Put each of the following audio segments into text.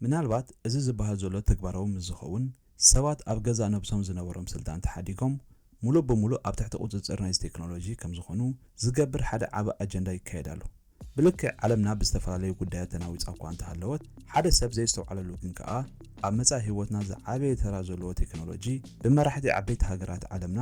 ምናልባት እዚ ዝበሃል ዘሎ ተግባራዊ ምስ ዝኸውን፣ ሰባት ኣብ ገዛእ ነብሶም ዝነበሮም ስልጣን ተሓዲጎም ምሉእ ብምሉእ ኣብ ትሕቲ ቁጽጽር ናይዚ ቴክኖሎጂ ከም ዝኾኑ ዝገብር ሓደ ዓቢ ኣጀንዳ ይካየድ ኣሎ። ብልክዕ ዓለምና ብዝተፈላለዩ ጉዳያት ተናዊጻ እኳ እንተሃለወት፣ ሓደ ሰብ ዘየስተውዓለሉ ግን ከኣ ኣብ መጻኢ ህይወትና ዝዓበየ ተራ ዘለዎ ቴክኖሎጂ ብመራሕቲ ዓበይቲ ሃገራት ዓለምና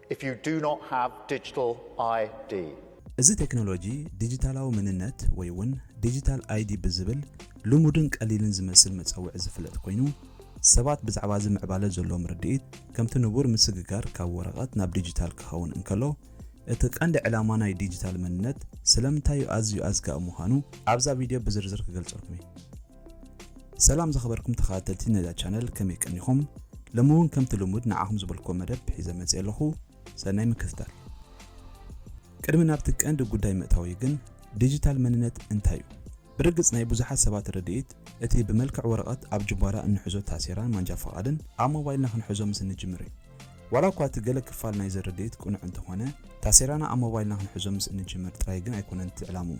If you do not have digital ID. እዚ ቴክኖሎጂ ዲጂታላዊ መንነት ወይ እውን ዲጂታል ኣይዲ ብዝብል ልሙድን ቀሊልን ዝመስል መጸውዒ ዝፍለጥ ኮይኑ፣ ሰባት ብዛዕባ እዚ ምዕባለ ዘለዎም ርድኢት ከምቲ ንቡር ምስግጋር ካብ ወረቐት ናብ ዲጂታል ክኸውን እንከሎ፣ እቲ ቀንዲ ዕላማ ናይ ዲጂታል መንነት ስለምንታይ ኣዝዩ ኣዝጋኢ ምዃኑ ኣብዛ ቪድዮ ብዝርዝር ክገልጸልኩም እየ። ሰላም ዝኸበርኩም ተኸታተልቲ ነዛ ቻነል ከመይ ቀኒኹም? ሎሚ እውን ከምቲ ልሙድ ንዓኹም ዝበልኩዎ መደብ ሒዘ መፅየ ኣለኹ። ሰናይ ምክትታል። ቅድሚ ናብቲ ቀንዲ ጉዳይ ምእታወይ ግን ዲጂታል መንነት እንታይ እዩ? ብርግፅ ናይ ብዙሓት ሰባት ርድኢት እቲ ብመልክዕ ወረቐት ኣብ ጅቧራ እንሕዞ ታሴራን ማንጃ ፍቓድን ኣብ ሞባይልና ክንሕዞ ምስ እንጅምር እዩ። ዋላ እኳ እቲ ገለ ክፋል ናይዚ ርድኢት ቅኑዕ እንተኾነ ታሴራና ኣብ ሞባይልና ክንሕዞ ምስ እንጅምር ጥራይ ግን ኣይኮነን እቲ ዕላምኡ።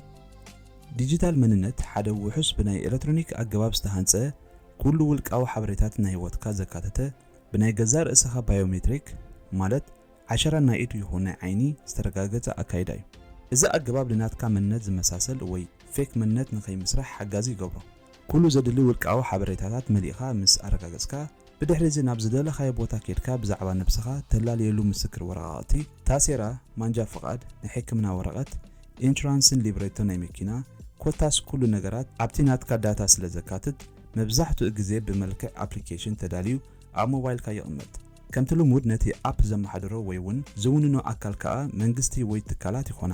ዲጂታል መንነት ሓደ ውሑስ ብናይ ኤለትሮኒክ ኣገባብ ዝተሃንጸ፣ ኩሉ ውልቃዊ ሓበሬታት ናይ ህይወትካ ዘካተተ፣ ብናይ ገዛእ ርእሰኻ ባዮሜትሪክ፣ ማለት ዓሸራ ናይ ኢድ ይኹን ናይ ዓይኒ፣ ዝተረጋገጸ ኣካይዳ እዩ። እዚ ኣገባብ ንናትካ መንነት ዝመሳሰል ወይ ፌክ መንነት ንኸይምስራሕ ሓጋዚ ይገብሮ። ኩሉ ዘድሊ ውልቃዊ ሓበሬታታት መሊእኻ ምስ ኣረጋገጽካ፣ ብድሕሪ'ዚ ናብ ዝደለኻዮ ቦታ ኬድካ ብዛዕባ ነብስኻ ተላልየሉ ምስክር ወረቓቕቲ፣ ታሴራ፣ ማንጃ ፍቓድ፣ ናይ ሕክምና ወረቐት፣ ኢንሹራንስን ሊብሬቶ ናይ መኪና፣ ኮታስ ኩሉ ነገራት ኣብቲ ናትካ ዳታ ስለ ዘካትት መብዛሕትኡ ግዜ ብመልክዕ ኣፕሊኬሽን ተዳልዩ ኣብ ሞባይልካ ይቕመጥ። ከምቲ ልሙድ ነቲ ኣፕ ዘመሓድሮ ወይ'ውን ዝውንኖ ኣካል ከኣ መንግስቲ ወይ ትካላት ይኾና።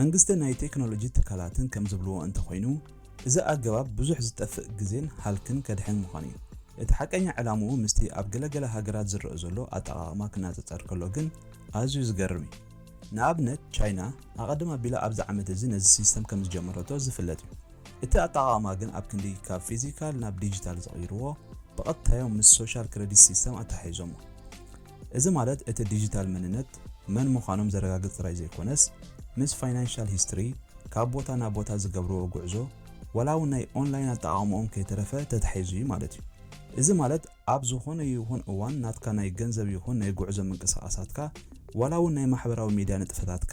መንግስትን ናይ ቴክኖሎጂ ትካላትን ከም ዝብልዎ እንተኾይኑ፣ እዚ ኣገባብ ብዙሕ ዝጠፍእ ግዜን ሃልክን ከድሕን ምዃኑ እዩ። እቲ ሓቀኛ ዕላምኡ ምስቲ ኣብ ገለ ገለ ሃገራት ዝረእ ዘሎ ኣጠቓቕማ ክነጸጸር ከሎ ግን ኣዝዩ ዝገርም እዩ። ንኣብነት ቻይና ኣቐድም ኣቢላ ኣብዚ ዓመት እዚ ነዚ ሲስተም ከም ዝጀመረቶ ዝፍለጥ እዩ። እቲ ኣጠቓቕማ ግን ኣብ ክንዲ ካብ ፊዚካል ናብ ዲጂታል ዝቕይርዎ፣ ብቐጥታ'ዮም ምስ ሶሻል ክረዲት ሲስተም ኣተሓሒዞሞ። እዚ ማለት እቲ ዲጂታል መንነት መን ምዃኖም ዘረጋግጽ ጥራይ ዘይኮነስ፣ ምስ ፋይናንሻል ሂስትሪ፣ ካብ ቦታ ናብ ቦታ ዝገብርዎ ጉዕዞ፣ ዋላ እውን ናይ ኦንላይን ኣጠቓቕማኦም ከይተረፈ ተታሒዙ እዩ ማለት እዩ። እዚ ማለት ኣብ ዝኾነ ይኹን እዋን ናትካ ናይ ገንዘብ ይኹን ናይ ጉዕዞ ምንቅስቓሳትካ፣ ዋላ እውን ናይ ማሕበራዊ ሚድያ ንጥፈታትካ፣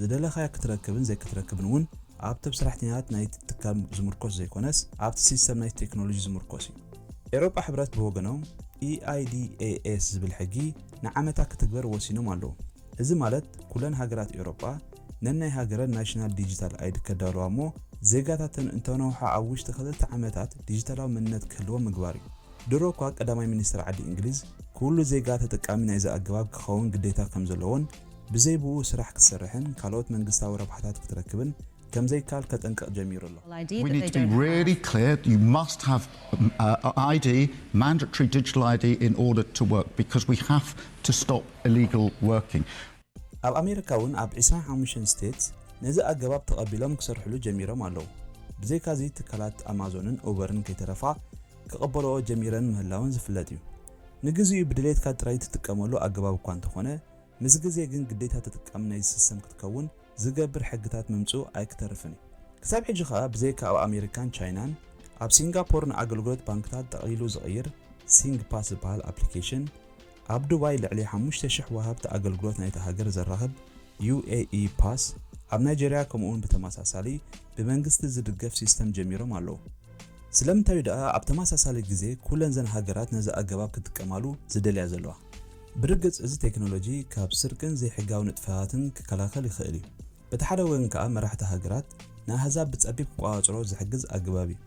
ዝደለኻዮ ክትረክብን ዘይክትረክብን እውን ኣብቶም ሰራሕተኛታት ናይቲ ትካል ዝምርኮስ ዘይኮነስ ኣብቲ ሲስተም ናይቲ ቴክኖሎጂ ዝምርኮስ እዩ። ኤውሮጳ ሕብረት ብወገኖም EIDAS ዝብል ሕጊ ንዓመታ ክትግበር ወሲኖም ኣለዉ። እዚ ማለት ኩለን ሃገራት ኤውሮጳ ነናይ ሃገረን ናሽናል ዲጂታል ኣይዲ ከዳልዋ እሞ ዜጋታተን እንተነውሓ ኣብ ውሽጢ ክልተ ዓመታት ዲጂታላዊ መንነት ክህልዎም ምግባር እዩ። ድሮ እኳ ቀዳማይ ሚኒስተር ዓዲ እንግሊዝ ኩሉ ዜጋ ተጠቃሚ ናይዚ ኣገባብ ክኸውን ግዴታ ከምዘለዎን፣ ብዘይ ብኡ ስራሕ ክትሰርሕን ካልኦት መንግስታዊ ረብሓታት ክትረክብን ከምዘይካል ከጠንቅቕ ጀሚሩ ኣሎ። We need to be really clear, you must have ID, mandatory digital ID, in order to work because we have to stop illegal working. ኣብ ኣሜሪካ እውን ኣብ ዕስራን ሓሙሽተን ስቴትስ ነዚ ኣገባብ ተቐቢሎም ክሰርሕሉ ጀሚሮም ኣለዉ። ብዘይካዚ ትካላት ኣማዞንን ኡበርን ከይተረፋ ክቕበልኦ ጀሚረን ምህላወን ዝፍለጥ እዩ። ንግዚኡ ብድሌትካ ጥራይ ትጥቀመሉ ኣገባብ እኳ እንተኾነ፣ ምስ ግዜ ግን ግዴታ ተጠቃሚ ናይዚ ሲስተም ክትከውን ዝገብር ሕግታት ምምጽኡ ኣይክተርፍን እዩ። ክሳብ ሕጂ ከኣ ብዘይካ ኣብ ኣሜሪካን ቻይናን፣ ኣብ ሲንጋፖር ንኣገልግሎት ባንክታት ጠቕሊሉ ዝቕይር ሲንግፓስ ዝበሃል ኣፕሊኬሽን፣ ኣብ ዱባይ ልዕሊ ሓሙሽተ ሽሕ ወሃብቲ ኣገልግሎት ናይታ ሃገር ዘራኽብ UAE Pass፣ ኣብ ናይጀርያ ከምኡ'ውን ብተመሳሳሊ ብመንግስቲ ዝድገፍ ሲስተም ጀሚሮም ኣለዉ። ስለምንታይ'ዩ ደኣ ኣብ ተመሳሳሊ ግዜ ኩለን እዘን ሃገራት ነዚ ኣገባብ ክጥቀማሉ ዝደልያ ዘለዋ? ብርግጽ እዚ ቴክኖሎጂ ካብ ስርቅን ዘይሕጋዊ ንጥፈታትን ክከላኸል ይኽእል እዩ። በቲ ሓደ ወገን ከኣ መራሕቲ ሃገራት ንኣህዛብ ብጸቢብ ክቆጻጸርኦ ዝሕግዝ ኣገባብ እዩ።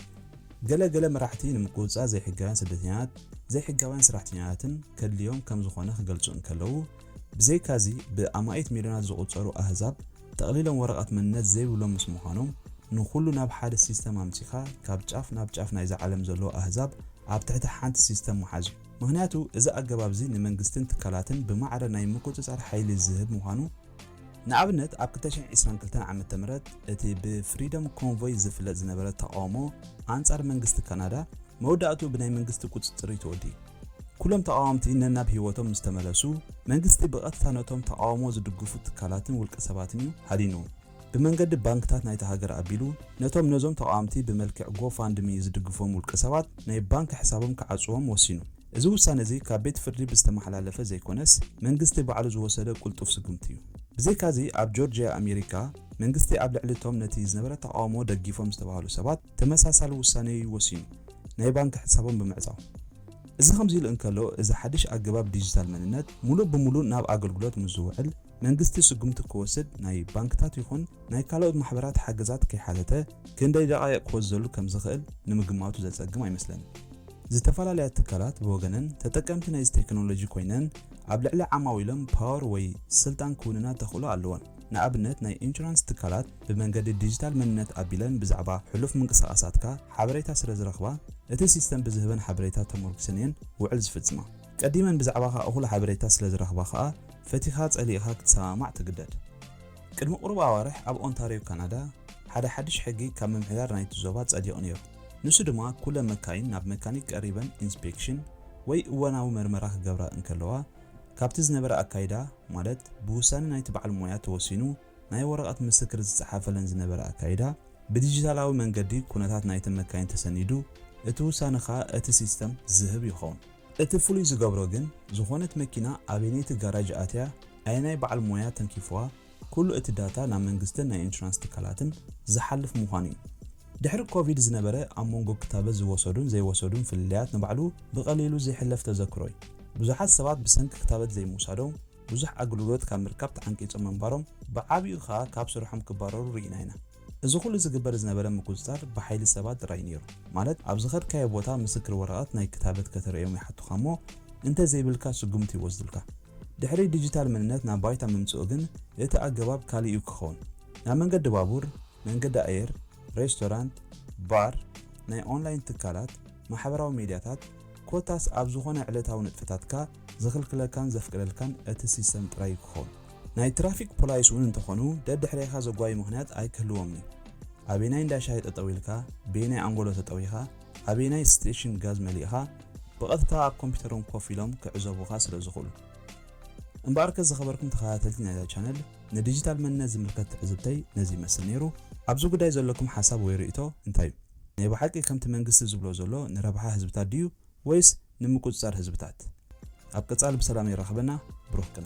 ገለ ገለ መራሕቲ ንምቁጽጻር ዘይሕጋውያን ስደተኛታት ዘይሕጋውያን ሰራሕተኛታትን ከድልዮም ከም ዝኾነ ክገልጹ እንከለዉ ብዘይካዚ ብኣማኢት ሚልዮናት ዝቁጸሩ ኣህዛብ ጠቕሊሎም ወረቐት መንነት ዘይብሎም ምስ ምዃኖም ንኹሉ ናብ ሓደ ሲስተም ኣምጺኻ ካብ ጫፍ ናብ ጫፍ ናይዛ ዓለም ዘለዉ ኣህዛብ ኣብ ትሕቲ ሓንቲ ሲስተም ምሓዝ እዩ። ምኽንያቱ እዚ ኣገባብ'ዚ ንመንግስትን ትካላትን ብማዕረ ናይ ምቁጽጻር ሓይሊ ዝህብ ምዃኑ፣ ንኣብነት ኣብ ክልተ ሽሕን ዒስራን ክልተን ዓመተ ምህረት እቲ ብፍሪደም ኮንቮይ ዝፍለጥ ዝነበረ ተቓውሞ ኣንጻር መንግስቲ ካናዳ መወዳእትኡ ብናይ መንግስቲ ቁጽጽር'ዩ ተወዲኡ። ኩሎም ተቓወምቲ ነናብ ህይወቶም ምስ ተመለሱ፣ መንግስቲ ብቐጥታ ነቶም ተቓውሞ ዝድግፉ ትካላትን ውልቀሰባትን'ዩ ሃዲኑ። ብመንገዲ ባንክታት ናይታ ሃገር ኣቢሉ ነቶም ነዞም ተቓወምቲ ብመልክዕ ጎፋንድሚ ዝድግፎም ውልቀሰባት ናይ ባንክ ሕሳቦም ክዓጽዎም ወሲኑ። እዚ ውሳነ እዚ ካብ ቤት ፍርዲ ብዝተመሓላለፈ ዘይኮነስ መንግስቲ ባዕሉ ዝወሰደ ቅልጡፍ ስጉምቲ እዩ። ብዘይካዚ ኣብ ጆርጂያ ኣሜሪካ መንግስቲ ኣብ ልዕሊ እቶም ነቲ ዝነበረ ተቓውሞ ደጊፎም ዝተባህሉ ሰባት ተመሳሳሊ ውሳነ እዩ ወሲኑ፣ ናይ ባንክ ሕሳቦም ብምዕጻው። እዚ ከምዚ ኢሉ እንከሎ እዚ ሓድሽ ኣገባብ ዲጂታል መንነት ሙሉእ ብሙሉእ ናብ ኣገልግሎት ምስ ዝውዕል፣ መንግስቲ ስጉምቲ ክወስድ ናይ ባንክታት ይኹን ናይ ካልኦት ማሕበራት ሓገዛት ከይሓተተ ክንደይ ደቓይቕ ክወስዘሉ ከም ዝኽእል ንምግማቱ ዘጸግም ኣይመስለንን። ዝተፈላለያ ትካላት ብወገነን ተጠቀምቲ ናይዚ ቴክኖሎጂ ኮይነን ኣብ ልዕሊ ዓማዊሎም ፓወር ወይ ስልጣን ክውንና ተኽእሎ ኣለወን። ንኣብነት ናይ ኢንሹራንስ ትካላት ብመንገዲ ዲጂታል መንነት ኣቢለን ብዛዕባ ሕሉፍ ምንቅስቓሳትካ ሓበሬታ ስለ ዝረኽባ እቲ ሲስተም ብዝህበን ሓበሬታ ተሞርኲሰን እየን ውዕል ዝፍጽማ። ቀዲመን ብዛዕባኻ እኹል ሓበሬታ ስለ ዝረኽባ ኸኣ ፈቲኻ ጸሊእኻ ክትሰማማዕ ትግደድ። ቅድሚ ቁሩብ ኣዋርሕ ኣብ ኦንታርዮ ካናዳ ሓደ ሓድሽ ሕጊ ካብ ምምሕዳር ናይቲ ዞባ ጸዲቑ ነይሩ። ንሱ ድማ ኩለን መካይን ናብ መካኒክ ቀሪበን ኢንስፔክሽን ወይ እዋናዊ መርመራ ክገብራ እንከለዋ ካብቲ ዝነበረ ኣካይዳ ማለት ብውሳነ ናይቲ በዓል ሞያ ተወሲኑ ናይ ወረቐት ምስክር ዝጸሓፈለን ዝነበረ ኣካይዳ፣ ብዲጂታላዊ መንገዲ ኩነታት ናይተን መካይን ተሰኒዱ፣ እቲ ውሳነ ከኣ እቲ ሲስተም ዝህብ ይኸውን። እቲ ፍሉይ ዝገብሮ ግን፣ ዝኾነት መኪና ኣበየነይቲ ጋራጅ ኣትያ፣ ኣየናይ በዓል ሞያ ተንኪፉዋ፣ ኩሉ እቲ ዳታ ናብ መንግስትን ናይ ኢንሹራንስ ትካላትን ዝሓልፍ ምዃኑ እዩ። ድሕሪ ኮቪድ ዝነበረ ኣብ መንጎ ክታበት ዝወሰዱን ዘይወሰዱን ፍልልያት ንባዕሉ ብቐሊሉ ዘይሕለፍ ተዘክሮ እዩ። ብዙሓት ሰባት ብሰንኪ ክታበት ዘይምውሳዶም ብዙሕ ኣግልግሎት ካብ ምርካብ ተዓንቂጾም ምንባሮም፣ ብዓቢኡ ከኣ ካብ ስርሖም ክባረሩ ርኢና ኢና። እዚ ኩሉ ዝግበር ዝነበረ ምቁጽጻር ብሓይሊ ሰባት ጥራይ ነይሩ። ማለት ኣብ ዝኸድካዮ ቦታ ምስክር ወረቐት ናይ ክታበት ከተርእዮም ይሓቱኻ እሞ እንተ ዘይብልካ ስጉምቲ ይወስዱልካ። ድሕሪ ዲጂታል መንነት ናብ ባይታ ምምጽኡ ግን እቲ ኣገባብ ካልእ እዩ ክኸውን። ናብ መንገዲ ባቡር፣ መንገዲ ኣየር፣ ሬስቶራንት፣ ባር፣ ናይ ኦንላይን ትካላት፣ ማሕበራዊ ሜድያታት ኮታስ ኣብ ዝኾነ ዕለታዊ ንጥፈታትካ ዝኽልክለካን ዘፍቅደልካን እቲ ሲስተም ጥራይ እዩ ክኸውን። ናይ ትራፊክ ፖላይስ እውን እንተኾኑ ደድሕሬኻ ዘጓዩ ምኽንያት ኣይክህልዎምን እዩ። ኣበየናይ እንዳ ሻሂ ጠጠው ኢልካ፣ በየናይ ኣንጎሎ ተጠዊኻ፣ ኣበየናይ ስቴሽን ጋዝ መሊእኻ ብቐጥታ ኣብ ኮምፒተሮም ኮፍ ኢሎም ክዕዘቡኻ ስለ ዝኽእሉ። እምበኣርከ ዝኸበርኩም ተኸታተልቲ ናይዛ ቻነል ንዲጂታል መንነት ዝምልከት ትዕዝብተይ ነዚ ይመስል ነይሩ። ኣብዚ ጉዳይ ዘለኩም ሓሳብ ወይ ርእይቶ እንታይ እዩ? ናይ ብሓቂ ከምቲ መንግስቲ ዝብሎ ዘሎ ንረብሓ ህዝብታት ድዩ ወይስ ንምቁጽጻር ህዝብታት? ኣብ ቀጻሊ ብሰላም የራኽበና ብሩኽ ቅነ።